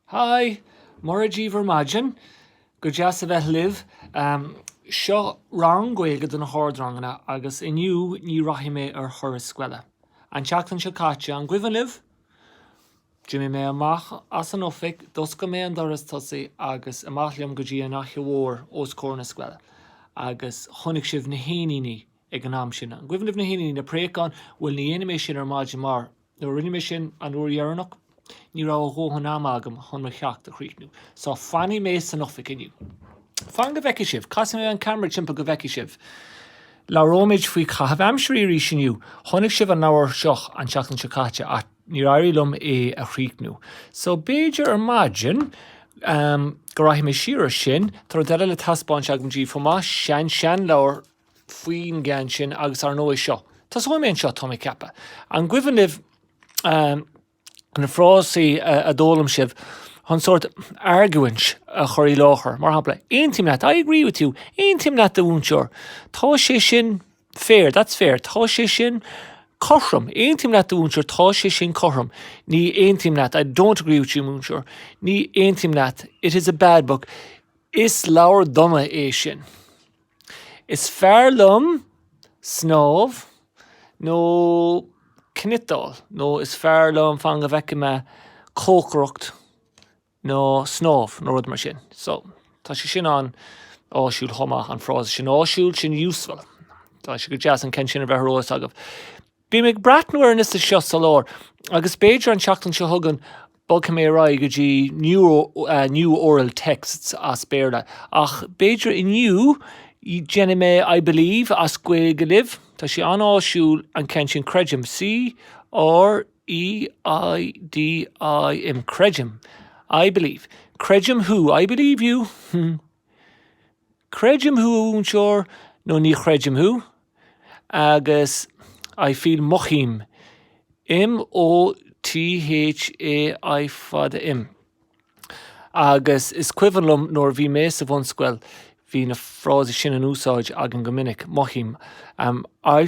Hi! Mora daoibh ar maidin, go deas a bheith libh. Seo rang Gaeilge do na hardranganna agus inniu ní rachaidh mé ar thuras scoile. An tseachtain seo caite, an gcuimhin libh? D'imigh mé amach as an oifig, d'oscail mé an doras tosaigh agus amach liom go dtí an fhaiche mhór os comhair na scoile agus chonaic sibh na héiníní ag an am sin. An gcuimhin libh na héiníní, na préacháin? Bhuel, ní dhéanfaidh mé sin ar maidin mar nuair a rinne mé sin an uair dheireanach, ní raibh a dhóthain ama agam chun mo cheacht a chríochnú. So, fanfaidh mé san oifig inniu. Fan go bhfeicfidh sibh. Casfaidh mé an ceamara timpeall go bhfeicfidh sibh. Labhróimid faoi chaitheamh aimsire arís inniu. Chonaic sibh an leabhar seo an tseachtain seo caite ach níor éirigh liom é a chríochnú. So, b'fhéidir ar maidin go rachaidh mé siar ar sin. Tá rud eile le taispeáint agam daoibh chomh maith, sean, sean leabhar. faoin gceann sin agus ár ndóigh seo. Tosóidh mé anseo, tá mé ag ceapadh. An gcuimhin libh na frásaí a d'fhoghlaim sibh chun sórt argóint a chur i láthair? Mar shampla, Aontaím leat, I agree with you. Aontaím leat, a mhúinteoir. Tá sé sin fair, that's fair. Tá sé sin cothrom. Aontaím leat, a mhúinteoir. Tá sé sin cothrom. Ní aontaím leat, I don't agree with you, a mhúinteoir. Ní aontaím leat, It is a bad book. Is leabhar dona é sin. Is fearr liom snámh nó cniotáil nó is fearr liom fan go bhfeicfidh mé cócaireacht ná snámh nó rud mar sin. So, tá sé sin an-áisiúil chomh maith, an frása sin. Áisiúil, sin useful. Tá sé go deas an ceann sin a bheith ar eolas agaibh. Bím ag breathnú ar an liosta seo sa lár agus b'fhéidir an tseachtain seo chugainn bogfaidh mé ar aghaidh go dtí New Oral Texts as Béarla, ach b'fhéidir inniu déanfaidh mé I believe as Gaeilge libh, tá sé an-áisiúil an ceann sin creidim, C-r-e-i-d-i-m, creidim, I believe, creidim thú, I believe you, hmm. Creidim thú a mhúinteoir nó ní chreidim thú agus I feel mothaím M-o-t-h-a-i fada im agus is cuimhin liom nuair a bhí mé sa bhunscoil bhí na frásaí sin in úsáid againn go minic mothaím a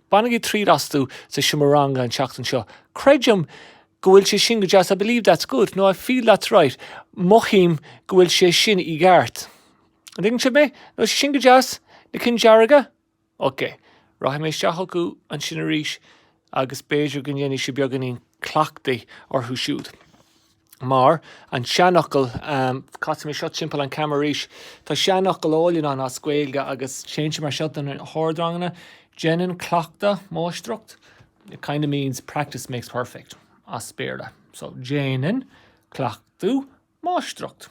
Bainigí triail astu sa seomra ranga an tseachtain seo. Creidim go bhfuil sé sin go deas I believe that's good nó I feel that's right Mothaím go bhfuil sé sin i gceart. An dtuigeann sibh mé? Nach bhfuil sé sin go deas? Na cinn dearga? Ok. Rachaidh mé isteach chucu ansin arís agus b'fhéidir go ndéanfaidh sibh beagáinín cleachtaidh orthu siúd. Mar an seanfhocal, casfaidh mé seo timpeall an camera arís, tá seanfhocal álainn ann as Gaeilge agus téann sé mar seo do na hardranganna, Déanann cleachtadh máistreacht, it kind of means practice makes perfect as Béarla. So, Déanann cleachtadh máistreacht.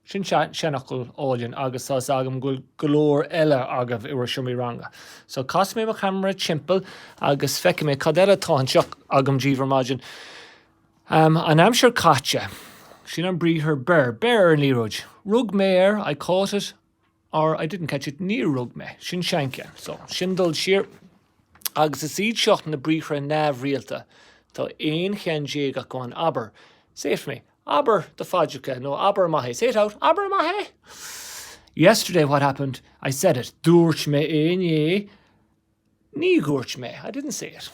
Sin seanfhocal álainn agus tá 'fhios agam go bhfuil go leor eile agaibh i bhur seomraí ranga. So casfaidh mé mo cheamara timpeall agus feicfidh mé cad eile atá anseo agam díbh ar maidin. An aimsir caite. Sin an briathar beir. Beir ar an liathróid. Rug mé air, I caught it. Or, I didn't catch it, níor rug mé, sin seancheann, so, sin dul siar. Agus is iad seo na briathra neamhrialta, tá aon cheann déag acu ann, abair, say it for me, abair do phaidreacha nó abair amach é, say it out, abair maith é! Yesterday what happened, I said it, dúirt mé é inné. Ní dúirt mé, I didn't say it.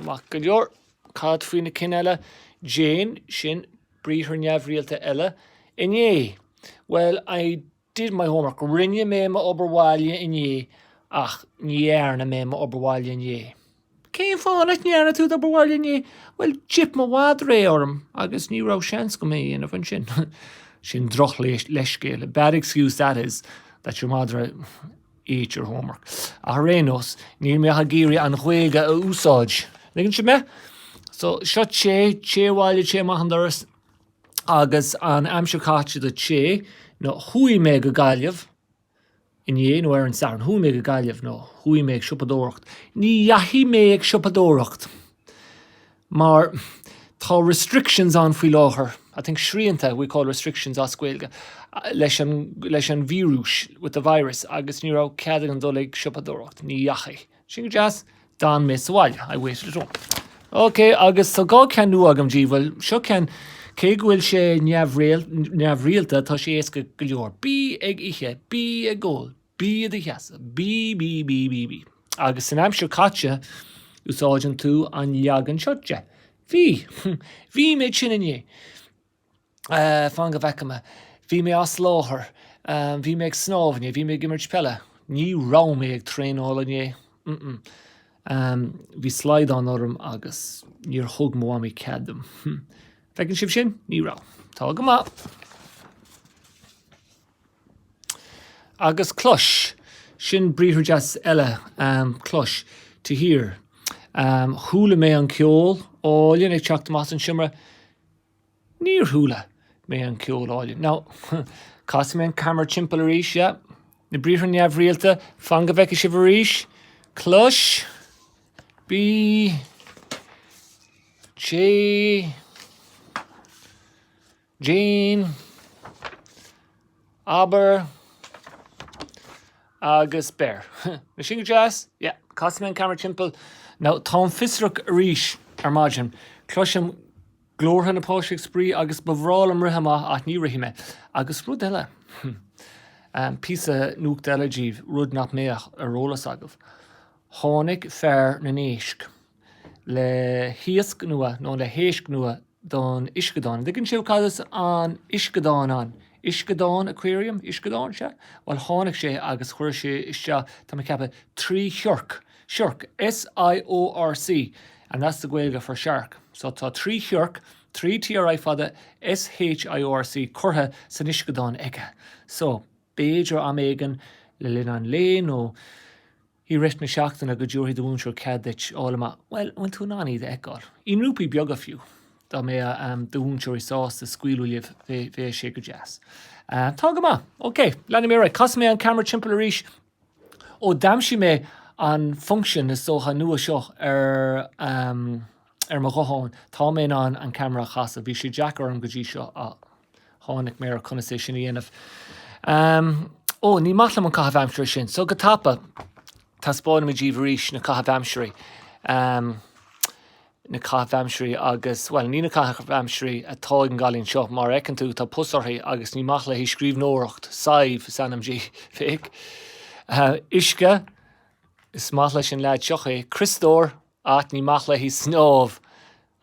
Maith go leor. Cad faoi na cinn eile? Déan, sin briathar neamhrialta eile. Inné, Well, I did my homework. Rinne mé m'obair bhaile inné, ach ní dhearna mé m'obair bhaile inné. Cén fáth nach ndearna tú d'obair bhaile inné? Bhuel, d'ith mo mhadra é orm agus ní raibh seans agam é a dhéanamh ansin. Sin droch-leithscéal, a bad excuse that is, that your madra ate your homework. Ach ar aon nós, bím ag iarraidh an Ghaeilge a úsáid. Tuigeann sibh mé? So, seo té, téigh abhaile, téigh amach an doras agus an aimsir caite do téigh nó chuaigh mé go Gaillimh inné nó ar an Satharn. Chuaigh mé go Gaillimh nó chuaigh mé ag siopadóireacht. Ní dheachaigh mé ag siopadóireacht. mar tá restrictions ann faoi láthair, I think srianta we call restrictions as Gaeilge, leis an, leis an víreas, with the virus, agus ní raibh cead agam dul ag siopadóireacht, ní dheachaigh. Sin go deas, d'fhan mé sa bhaile, I waited at home. Ok, agus so dhá cheann nua agam daoibh. Bhuel, seo ceann, cé go bhfuil sé neamhrialta, tá sé éasca go leor, bí ag ithe, bí ag ól, Bí i do sheasamh. Bí, bí, bí, bí, bí. Agus san aimsir caite, úsáideann tú an leagan seo de. Bhí. Bhí mé tinn inné. Fan go bhfeice mé. Bhí mé as láthair. Bhí mé ag snámh inné. Bhí mé ag imirt peile. Ní raibh mé ag traenáil inné. Bhí slaghdán orm agus níor thug mo mhamaí cead dom. Feiceann sibh sin? Ní raibh. Tá go maith. Agus clois, sin briathar deas eile, clois, to hear. Chuala mé an ceol álainn ag teacht amach as an seomra. Níor chuala mé an ceol álainn. Now, casfaidh mé an camera timpeall arís, yeah. Na briathra neamhrialta, fan go bhfeice sibh arís. Clois, bí, téigh, déan, abair, agus beir. Nach sin go deas? Yeah, casfaidh mé an camera timpeall. Now, tá mé fiosrach arís ar maidin. Cloisim glórtha na bpáistí ag spraoi agus ba bhreá liom rith amach ach ní rithfidh mé. Agus rud eile, hmm, píosa nuachta eile díbh, rud nach mbeadh ar eolas agaibh. Tháinig fear na n-éisc le hiasc nua, nó le héisc nua, don uisceadán. An dtuigeann sibh cad is uisceadán ann? Uisceadán, aquarium, uisceadán, sea. Bhuel tháinig sé agus chuir sé isteach, tá mé ag ceapadh, trí shiorc. Siorc, S-I-O-R-C, and that's the Gaeilge for shark. So tá trí shiorc, trí TRI fada, S-H-I-O-R-C, curtha san uisceadán aige. So, b'fhéidir am éigin le linn an lae nó. I rith na seachtaine go dtabharfaidh do mhúinteoir cead duit fháil amach, bhuel, an bhfuil tú in ann iad a fheiceáil, i ngrúpaí beaga fiú. Dá mbeadh do mhúinteoir sásta scaoileadh libh, bheadh sé go deas. Tá go maith. Ok, leanfaidh mé ar aghaidh. Casfaidh mé an ceamara timpeall arís ó d'aimsigh mé an function is dócha nua seo ar. ar mo ghuthán. Tá mé in ann an ceamara a chasadh. Bhí sé deacair orm go dtí seo ach tháinig mé ar conas é sin a dhéanamh. Ehm, Ó, ní maith liom an caitheamh aimsire sin, so go tapa taispeánfaidh mé díbh arís na caithimh aimsirí. Ehm, Na caithimh aimsirí agus, bhuel, ní na caithimh aimsirí atá ag an gcailín seo, mar a fheiceann tú, tá pus uirthi agus ní maith léi scríbhneoireacht, Sadhbh is ainm di, féach. Ehm, Uisce, is maith leis an leaid seo é. Criostóir, Ach ní maith léi snámh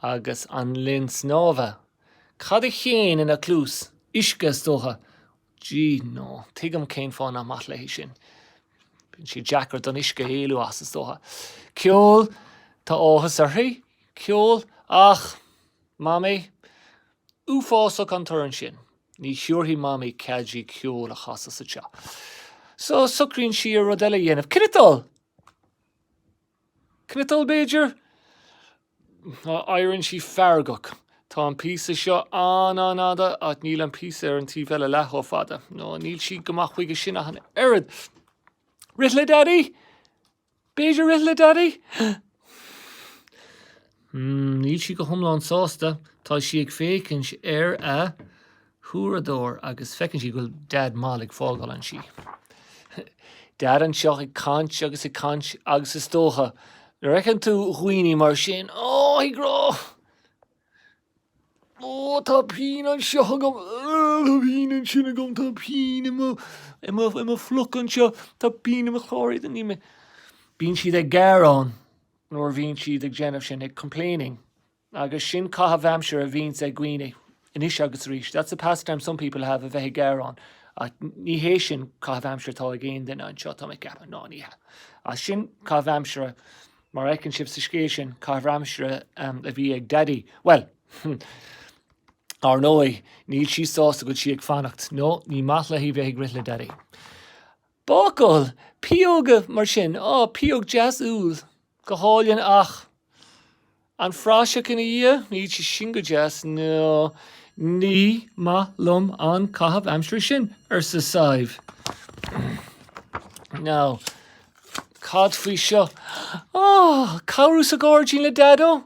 agus an linn snámha, cad a théann ina cluas? Uisce is dócha. Gee, no, tuigim cén fáth nach maith léi sin. Bíonn sé deacair don uisce éalú as is dócha. Ceol, tá áthas uirthi, ceol, ach, Mamaí, uafásach an torann sin. Ní thabharfaidh Mamaí cead di ceol a chasadh sa teach. So, socraíonn sí ar rud eile a dhéanamh. Cniotáil! Cniotáil b'fhéidir? Éiríonn sí feargach. Tá an píosa seo an-an-fhada ach níl an píosa ar an taobh eile leath chomh fada. No, níl sí go maith chuige sin ach an oiread. Rith le Daidí? B'fhéidir rith le Daidí? Níl sí go hiomlán sásta. Tá sí ag féachaint ar a huaireadóir agus feiceann sí go bhfuil Deaid mall ag fágáil an tí. Deaid anseo ag caint agus ag caint agus is dócha nuair a fheiceann tú daoine mar sin, oh, ag rá oh, tá pian anseo agam, oh, tá pian ansin agam, tá pian i mo, i mo, i mo phluc anseo, tá pian i mo chlár éadain, ní mé. Bíonn siad ag gearán nuair a bhíonns siad ag déanamh sin, ag complaining, agus sin caitheamh aimsire a bhíonns ag daoine anois agus arís, that's a pastime some people have, a bheith ag gearán, ach ní hé sin caitheamh aimsire atá ag aon duine anseo tá mé ag ceapadh, ná ní hea. Ach sin caitheamh aimsire mar a fheiceann sibh sa scéal sin, caitheamh aimsire um, a bhí ag Daddy. Well, ar ndóigh, níl sí sásta go bhfuil sí ag fanacht, nó ní maith léi bheith ag rith le Daddy. Bácáil pióg mar sin, á, pióg dheas úll, go hálainn ach an phraiseach ina dhiaidh? Níl sé sin go deas, nó? Ní maith liom an caitheamh aimsire sin, arsa Sadhbh. Now, cad faoi seo? Á, cabhrú sa ghairdín le Daideo?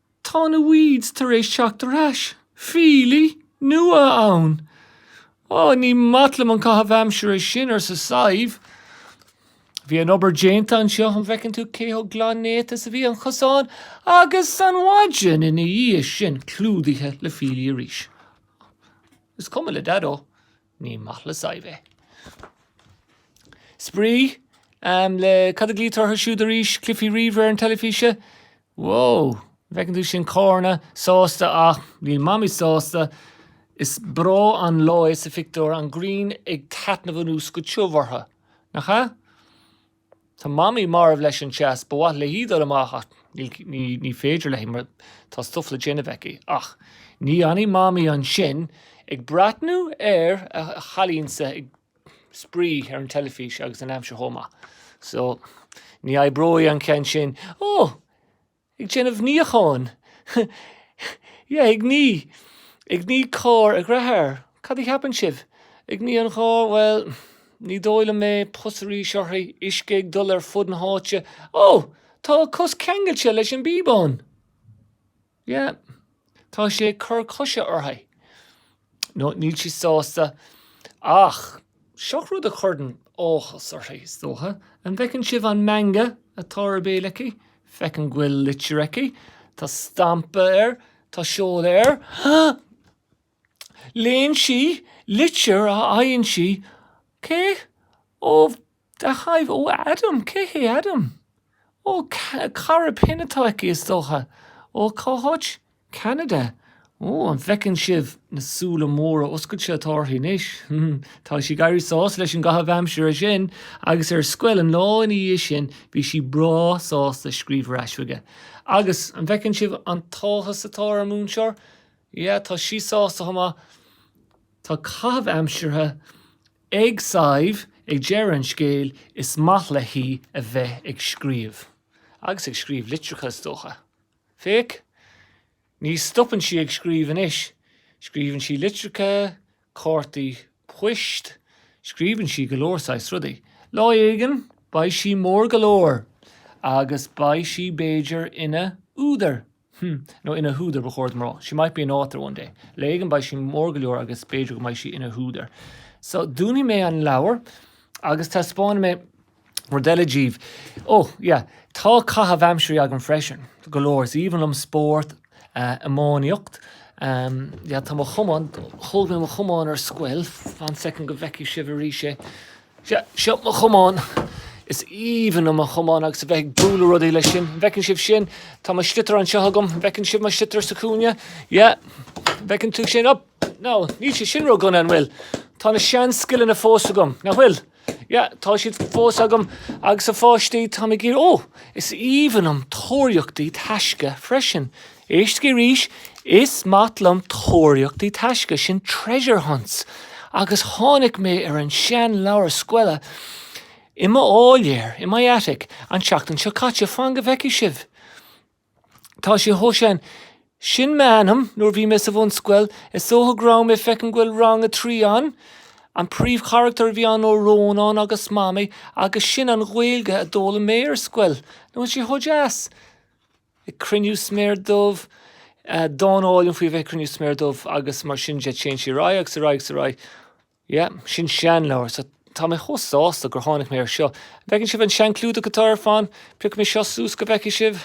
Tá na weeds tar éis teacht ar ais. Fiailí nua ann. Ó, ní maith liom an caitheamh aimsire sin, arsa Sadhbh. Bhí an obair déanta anseo, an bhfeiceann tú cé chomh glan néata is a bhí an cosán agus an mhaidin ina dhiaidh sin clúdaithe le fiailí arís. Is cuma le Daideo. Ní maith le Sadhbh é. Spraoi le cad a ghlaoitear orthu siúd arís, cluichí ríomhaire ar an teilifís? Wó! Bhfeiceann tú sin Cóirne sásta ach níl Mamaí sásta. Is breá an lá é sa phictiúr, an ghrian ag taitneamh anuas go tiubh orthu, nach ea? Tá Mamaí marbh leis an teas. Ba mhaith léi dul amach ach ní féidir léi mar tá stuif le déanamh aici. Ach ní fhanfaidh Mamaí ansin ag breathnú ar a cailínse ag spraoi ar an teilifís agus an aimsir chomh maith. So, ní oibreoidh an ceann sin. Ó! Ag déanamh níocháin. Yeah, ag ní. Ag ní carr a dearthár. Cad a cheapann sibh? Ag ní an charr, bhuel, ní dóigh liom é, pus arís uirthi, uisce ag dul ar fud na háite. Oh! Tá a cos ceangailte leis an bpíobán! Yeah. Tá sé ag cur coise uirthi. Nó níl sí sásta ach seo rud a chuireann áthas uirthi, is dócha. An bhfeiceann sibh an meangadh atá ar a béal aici? Feicim go bhfuil litir aici. Tá stampa air. Tá seoladh air. Léann sí litir a fhaigheann sí, cé? ó Caithfidh, ó Adam, cé hé Adam? Ó, cara pinn atá aici is dócha. Ó, cá háit? Ceanada. An bhfeiceann sibh na súile móra oscailte atá uirthi anois. Tá sí ag éirí sásta leis an gcaitheamh aimsire sin, agus ar scoil an lá ina dhiaidh sin bhí sí breá sásta scríobh ar ais chuige. Agus, an bhfeiceann sibh an t-áthas atá ar an múinteoir? Yeah, tá sí sásta chomh maith. Tá caitheamh aimsire Ag Sadhbh ag deireadh an scéil, is maith léi a bheith ag scríobh. Agus ag scríobh litreacha, is dócha. Féach, ní stopann sí ag scríobh anois. Scríobhann sí litreacha, cártaí poist, scríobhann sí go leor saghas rudaí. Lá éigin, beidh sí mór go leor, agus beidh sí b'fhéidir ina údar. Hm, nó ina húdar ba chóir dom a rá. She might be an author one day. Lá éigin beidh sí mór go leor agus b'fhéidir go mbeidh sí ina húdar. So, dúnfaidh mé an leabhar agus taispeánfaidh mé rud eile díbh. Ó, yeah, tá caitheamh aimsirí agam freisin, go leor. Is aoibhinn liom spórt, iománaíocht. Yeah, tá mo chamán, thóg mé mo chamán ar scoil. Fan soicind go bhfeicfidh sibh arís é. Seo mo chamán. Is aoibhinn liom mo chamán agus a bheith ag bualadh rudaí leis sin. An bhfeiceann sibh sin? Tá mo sliotar anseo agam. An bhfeiceann sibh mo sliotar sa chúinne? Yeah. An bhfeiceann tú sin? Up! No, níl sé sin ró-dhona, an bhfuil. Tá na sean scileanna fós agam. Nach bhfuil? Yeah, tá siad fós agam agus a pháistí tá mé ag iarraidh. Oh, is aoibhinn liom tóraíochtaí taisce freisin. Éistigí arís, is maith liom tóraíochtaí taisce, sin treasure hunts, agus tháinig mé ar an sean leabhar scoile i mo áiléar, in my attic, an tseachtain seo caite, fan go bhfeicfidh sibh. Tá sé chomh sean, sin m'ainm nuair bhí mé sa bhunscoil, is dócha go raibh mé, feicim an bhfuil rang a trí ann, an príomhcharactar a bhí ann ó Rónán agus Mamaí agus sin an Ghaeilge a d'fhoghlaim mé ar scoil, nach bhfuil sé chomh deas? ag cruinniú sméar dubh, dán álainn faoi a bheith ag cruinniú sméar dubh agus mar sin de téann sí ar aghaidh agus ar aghaidh agus ar aghaidh. Yeah, sin seanleabhar so tá mé chomh sásta gur tháinig mé ar seo. An bhfeiceann sibh an seanchlúdach atá air? Fan, piocfaidh mé seo suas go bhfeicfidh sibh.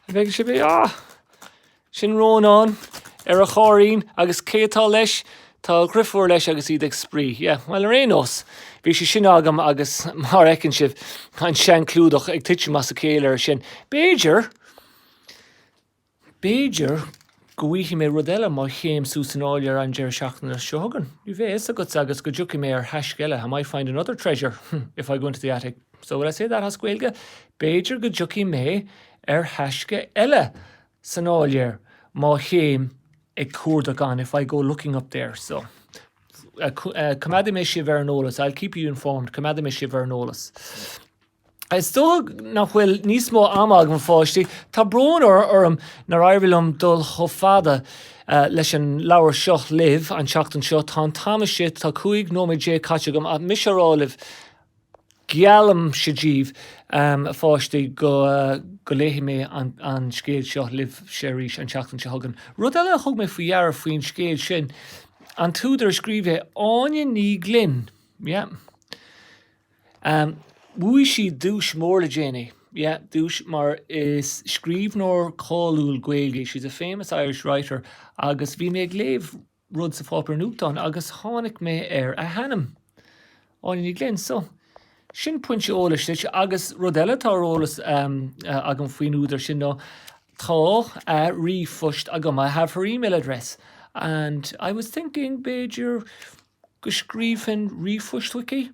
An bhfeiceann sibh é? Ah! Sin Rónán ar a chairrín agus cé atá leis? Tá a dheirfiúr leis agus iad ag spraoi. Yeah, bhuel, ar aon nós, bhí sé sin agam agus, mar a fheiceann sibh, an seanchlúdach ag titim as a chéile air sin. B'fhéidir, b'fhéidir go bhfaighidh mé rud eile má théim suas san áiléar an deireadh seachtaine seo chugainn. Ní bheidh a fhios agat, seans go dtiocfaidh mé ar thaisce eile, I might find another treasure if I go into the attic. So will I say that as Gaeilge? B'fhéidir go dtiocfaidh mé ar thaisce eile San áiléar, má théim ag cuardach ann, if I go looking up there, so, coimeádfaidh mé sibh ar an eolas, I'll keep you informed, coimeádfaidh mé sibh ar an eolas. Is dócha nach bhfuil níos mó ama agam a pháistí, tá brón orm nár éirigh liom dul chomh fada leis an leabhar seo libh an tseachtain seo, tá an t-am istigh, tá cúig nóiméad déag caite agam, ach mise á rá libh, Geallaimse díbh, a pháistí, go léifidh mé an scéal seo libhse arís an tseachtain seo chugainn. Rud eile a thug mé faoi deara faoin scéal sin, an t-údar a scríobh é, Áine Ní Ghlinn, yeah. Bhuaigh sí duais mór le déanaí, yeah, duais mar is scríbhneoir cáiliúil Gaeilge í, she's a famous Irish writer, agus bhí mé ag léamh, rud sa pháipéar nuachtáin agus tháinig mé ar a hainm. Áine Ní Ghlinn. So, sin pointe eolais duit agus rud eile atá ar eolas agam faoin údar sin ná tá a ríomhphost agam, I have her email address and I was thinking b'fhéidir go scríobfainn ríomhphost chuici?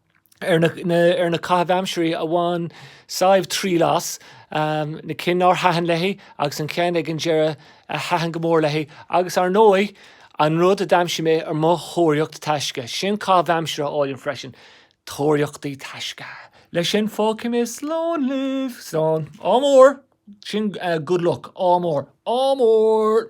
ar na caithimh aimsirí a bhain Sadhbh triail as, na cinn nár thaitin léi agus an ceann ag an deireadh a thaitin go mór léi agus, ar ndóigh, an rud a d'aimsigh mé ar mo thóraíocht taisce. Sin caithimh aimsire álainn freisin, tóraíochtaí taisce! Leis sin, fágfaidh mé slán libh. Slán. Ádh mór! Sin good luck. Ádh mór. Ádh mór!